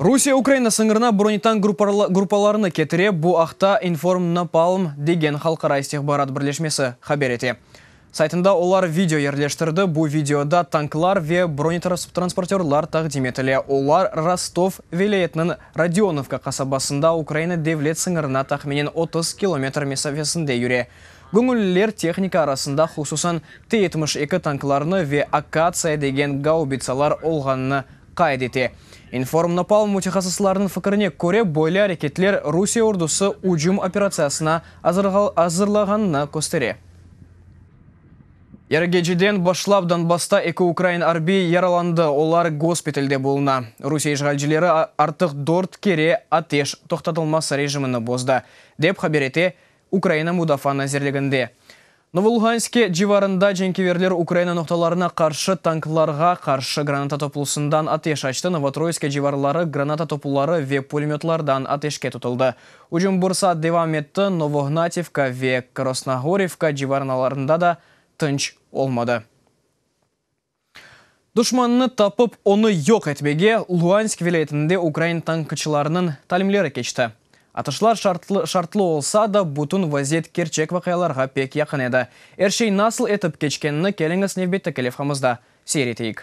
Rusiye Ukraina sıñırına bronitank gruppalarını ketire, bu aqta InformNapalm degen halqara istihbarat birleşmesi haber ete. Saytında olar video yerleştirdi, bu videoda tanklar ve bronetransportörlar taqdim etile, olar Rostov vilâyetiniñ Rodionovka qasabasında Ukraina devlet sıñırına tahminen otuz kilometr mesafesinde yüre. Göñülliler tehnika arasında hususan T-yetmiş eki tanklarını ve Akatsiya degen gaubitsalar olğanını qayd ete. İnformnapalm mütehassıslarnıñ fikirine köre, böyle areketler Rusiye ordusı ücüm operatsiyasına azırlağanını köstere. Yarıgeceden başlap Donbassta eki ukrain arbiy yaralandı, olar gospitalde buluna. Rusiye işğalcileri artıq dört kere ateş toqtatılması rejimini bozdı, dep haber ete Ukraina Mudafaa nazirliginde. Novoluhanske civarında cenkeverler Ukraina noqtalarına qarşı tanklarğa qarşı granata toplusından ateş açtı, Novotroyske civarları granata topuları ve pulemötlardan ateşke tutuldı. Ücüm bir saat devam etti, Novohnativka ve Krosnogorivka civarnalarında da tınç olmadı. Duşmannı tapıp, onı yoq etmege Luansk vilâyetinde ukrain tankçılarınıñ talimleri keçti. Atışlar şartlı şartlı olsa da, bütün vaziyet kerçek vaqialarğa pek yaqın edi. Er şey nasıl etip keçkenini keliñiz nevbetteki levhamızda seyir eteyik.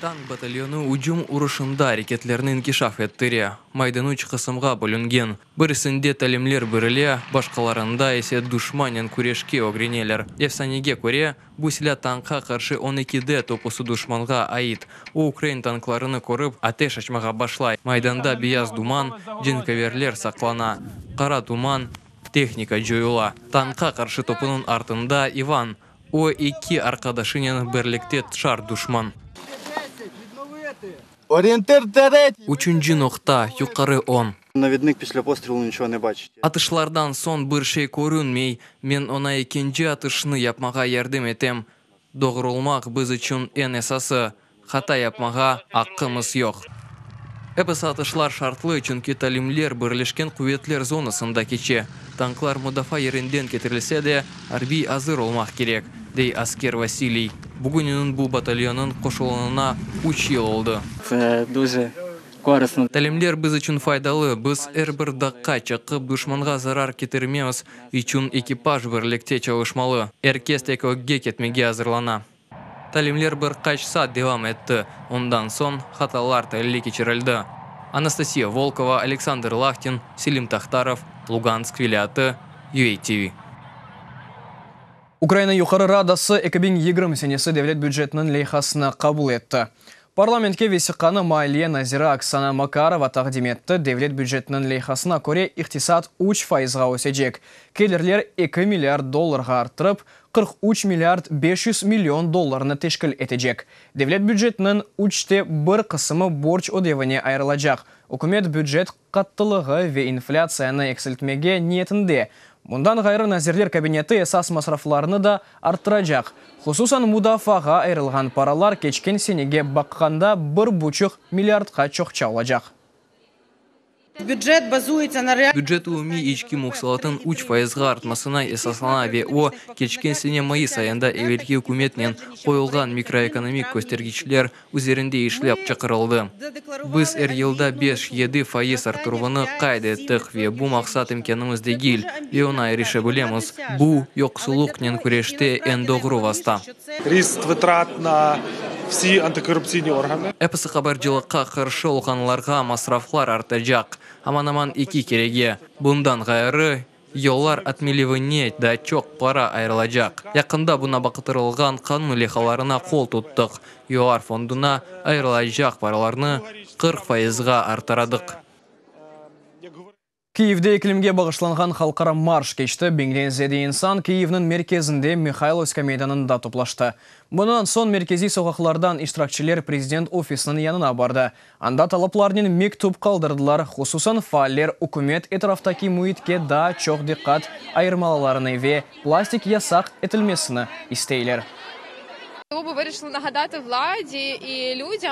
Tank batalyonı ücüm urışında areketlerni inkişaf ettire, maydan üç qısımğa bölüngen. Birisinde talimler birile, başqalarında ise duşmanen küreşke ögreneler. Efsanege köre, bu silâ tankqa qarşı on eki de topusı duşmanğa ait. O ukrain tanklarını körip, ateş açmağa başlay. Maydanda beyaz duman, cenköverler saqlana. Qara tuman, tehnika coyula. Tankqa qarşı topunıñ artında İvan. O, eki arqadaşınen birlikte tşar duşman. Orienter, terret! Üçünci noqta, yuqarı on. Navednik pislep ostrelu niço ne baçit. Atışlardan soñ bir şey körünmey. Men oña ekinci atışnı yapmağa yardım etem. Doğrulmaq biz içün eñ esası. Hata yapmağa aqqımız yoq. Episi atışlar şartlı, çünki talimler Birleşken Quvetler zonasında keçe. Tanklar mudafaa yerinden ketirilse de, arbiy azır olmaq kerek, dey asker Vasiliy. Bugününiñ bu batalyonıñ qoşulunına üç yıl oldı. Ve düze Talimler biz içün faydalı, biz er bir daqqa çıqıp duşmanğa zarar ketirmemiz içün ekipaj birlikte çalışmalı. Er kes tek ögge ketmege azırlana. Talimler bir qaç saat devam etti, ondan soñ hatalar tahlili keçirildi. Anastasiya Volkova, Aleksandr Lahtin, Selim Tahtarov, Lugansk vilâyatı, UATV. Ukraina Yuqarı Radası eki biñ yigirmi senesi devlet bücetiniñ leyhasını qabul etti. Parlamentke vesiqanı maliye naziri Oksana Makarova taqdim etti, devlet bücetiniñ leyhasına köre, iqtisat üç faizğa ösecek, kelirler eki milliard dollarğa arttırıp, qırq üç milliard beş yüz million dollarnı teşkil etecek. Devlet bücetiniñ üçte bir qısımı borç ödevine ayırılacaq, ükümet bücet qattılığı ve inflâtsiyanı eksiltmege niyetinde. Bundan ğayrı, Nazirler Kabineti esas masraflarnı da arttıracaq. Hususan, mudafaağa ayırılğan paralar keçken senege baqqanda bir buçuq milliardqa çoqça olacaq. Bücet umumiy içki muhsulatın üç faizğa artmasına esaslana ve o, keçken sene mayıs ayında evelki ükümetnen qoyulğan mikroekonomik köstergiçler, üzerinde işlep çıqırıldı. Biz er yılda beş-yedi faiz arttıruvını qayd ettik ve bu maqsat imkânımız degil ve oña irişe bilemiz. Bu, yoqsullıqnen küreşte eñ doğru vasta. Episi qabarcılıqqa qarşı olğanlarğa masraflar artacaq, aman-aman eki kerege. Bundan ğayrı, Yollar atmelivine daa çoq para ayırılacaq. Yaqında buna baqıtırılğan qanun leyhalarına qol tuttıq. Yollar fonduna ayırılacaq paralarnı qırq faizğa artıradıq. Kyivde iklimge bağışlanğan halqara marş keçti, biñden ziyade insan Kyivniñ merkezinde, Mihaylovska meydanında toplaştı. Bundan soñ merkeziy soqaqlardan iştirakçiler prezident ofisiniñ yanına bardı. Anda talaplarnen mektüp qaldırdılar, hususan faaller ükümet etraftaki müitke daa çoq diqqat ayırmalılarını ve plastik yasaq etilmesini isteyler.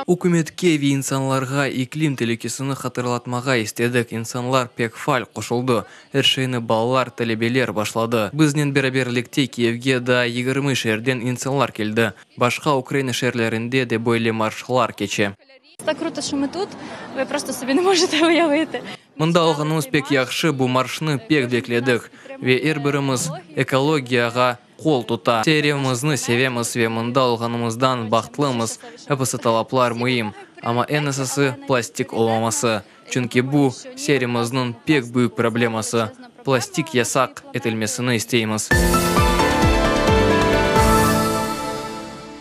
Ükümetke ve insanlarğa iklim telükesini hatırlatmağa istedik, insanlar pek faal qoşuldı, er şeyni balalar, talebeler başladı. Biznen beraberlikte Kiyevge daa yigirmi şeerden insanlar keldi, başqa Ukraina şeerlerinde de böyle marşlar keçe. Mında olğanımız pek yahşı, bu marşnı pek bekledik, ve er birimiz ekologiyağa qol tuta. Şeerimizni sevemiz ve mında olğanımızdan bahtlımız, episi talaplar müim, ama eñ esası, plastik olmaması. Çünki bu, şeerimizniñ pek büyük probleması, plastik yasaq etilmesini isteymiz.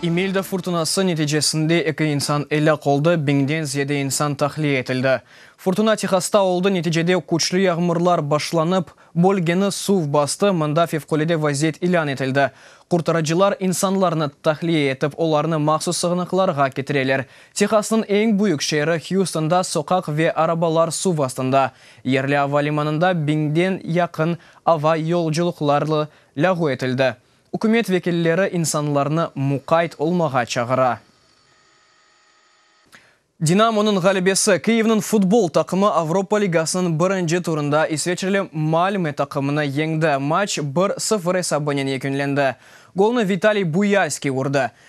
İmelda furtunası neticesinde eki insan elâk oldı, biñden ziyade insan tahliye etildi. Furtuna Tehasta oldı, neticede küçlü yağmurlar başlanıp, bölgeni suv bastı, mında fevqulade vaziyet ilân etildi. Qurtarıcılar insanlarnı tahliye etip, olarnı mahsus sığınaqlarğa ketireler, Tehasnıñ eñ büyük şeeri Hüstonda soqaq ve arabalar suv astında. Yerli ava limanında biñden yaqın ava yolculıqları lâğu etildi. Ükümet vekilleri insanlarnı muqayt olmağa çağıra. Dinamonıñ ğalebesi, Kyivniñ futbol taqımı Avropa ligasınıñ birinci turında isveçreli Malme taqımını yeñdi, maç bir, sıfır esabınen yekünlendi. Golnı Vitaliy Buyalskiy urdı.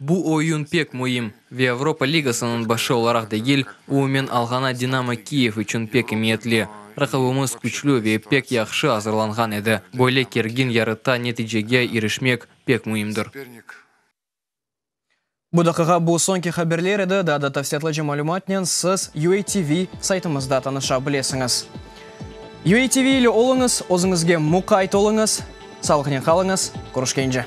Bu oyun pek müim ve Avropa Ligasınıñ başı olaraq degil, umumen alğana Dinamo Kiyev içün pek emiyetli. Raqibimiz küçlü ve pek yahşı azırlanğan edi. Böyle kergin yarıtta neticege irişmek pek müimdir. Bu daqiqa bu soñki haberler edi. Daa da tafsilâtlıca malümatnen siz UATV saytımızda tanışa bilesiñiz. UATV ile oluñız, özüñizge muqayt oluñız! Salıqnen qalıñız, körüşkence.